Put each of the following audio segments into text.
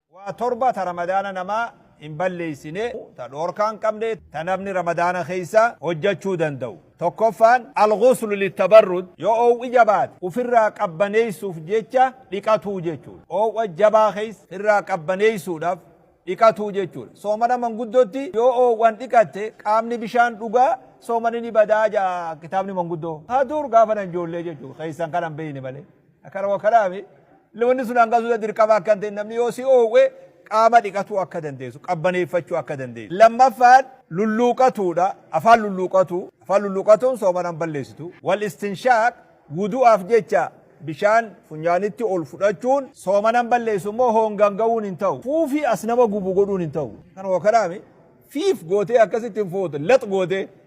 Waa torba ta Ramadaana namaa hin balleessine, ta dhoorkaa hin qabne, ta namni Ramadaana keessa hojjachuu danda'u. Tokkoffaan, Al-Ghuslu Lit-Tabarrud, Yoo oow'i jabaate ufirraa qabbaneessuuf jecha dhiqatuu jechuudha. Oow'a jabaa keessa firraa qabbaneessuudhaf dhiqatuu jechuudha. Soomana manguddootti yoo oow'an dhiqatte qaamni bishaan dhugaa soomani ni badaa ja'a kitaabni manguddoo. Ka dur gaafa nan joollee jechuudha. Keessan kana hin beeyne malee. Akana wakanafi illee wanni sun hanga suuta dirqama akka hin ta'in namni yoo si oowwe qaama dhiqatuu akka dandeessu qabbaneeffachuu akka dandeessu. Lammaffaan lulluuqatuudha afaan lulluuqatu afaan lulluuqatuun sooman hin balleessitu. Wal istinshaaq wudu'aaf jecha bishaan funyaanitti ol fudhachuun sooman hin balleessu immoo hoongaan ga'uun hin ta'u. Fuufii as nama gubu godhuun hin ta'u. Akana wakanafi fiif gootee akkasitti hin foote lax gootee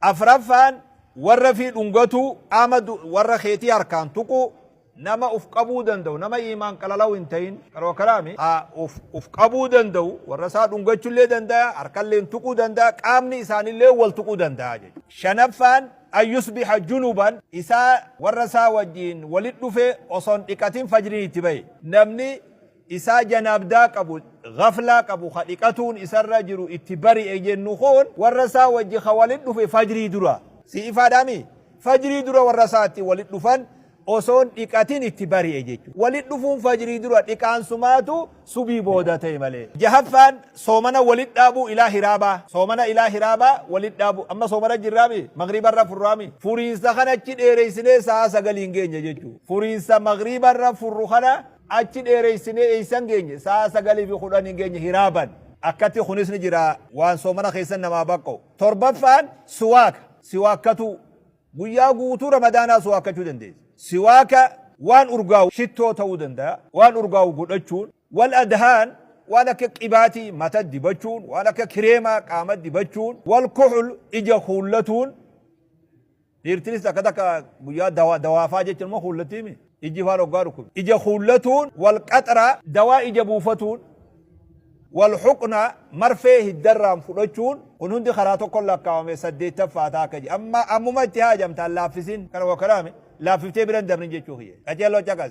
Afraffaan, warra fi dhungatuu, qaama du, warra keetii harkaan tuquu, nama uf qabuu danda'u, nama iimaan qalalau hin ta'in, qaroo kalaami, ha, uf, uf qabuu danda'u, warra isaa dhungachullee danda'a, harkalleen tuquu danda'a, qaamni isaanillee wal tuquu danda'a jechuudha. Shanaffaan, an yusbiha junuban, isaa warra isaa wajjiin walit dhufe osoo hin dhiqatin fajriin itti bahe. Namni isaa janaabdaa qabu, ghaflaa qabu, ka dhiqatuun isarra jiru itti bari'e jennu kun warra isaa wajji ka walitti dhufe fajrii dura. Sii ifaadhaa mii? Fajrii dura warra isaatti walitti dhufan osoo hin dhiqatin itti bari'e jechuudha. Walitti dhufuun fajrii dura dhiqaan sumaatu subii booda ta'e malee. Jahaffaan soomana walitti dhaabuu ilaa hiraabaa. Soomana ilaa hiraabaa walitti dhaabuu. Amma soomana jirraa mii? Maghriiba irra furraa mii? Furiinsa kana achi dheereysinee sa'aa sagaliin geenya jechuudha. Furiinsa maghriiba irra furru kana Achi dheereysinee eeysan geenye? Sa'a 9 fi 10 hin geenye hiraaban. Akkatti kunis ni jira waan soomana keeysan namaa baqqa'u. 7ffaan siwaaka, siwaakkatuu. Guyyaa guutuu ramadaanaa siwaakkachuu dandeeysa. Siwaaka waan urgaawu, shittoo ta'uu danda'a, waan urgaawu godhachuun. Wal adhaan waan akka qibaatii mata dibachuun, waan akka kireemaa qaama dibachuun. Wal kuxul ija kuullatuun. Dhiirtinis takka takka guyyaa dawaa dawaafaa jechuun immoo kuullattiimi ijji faan hoggaa dhukkube. Ija kuullatuun wal qaxra dawaa ija buufatuun wal xuqna marfee hiddarraan fudhachuun kun hundi karaa tokkon lakkaawame saddeettaffaa ta'a akka jedhe amma ammuma itti haajamtaan laaffisin kana wakkaraame laaffiftee bira hin dabrin jechuu kiyya qaceelloo caqasi.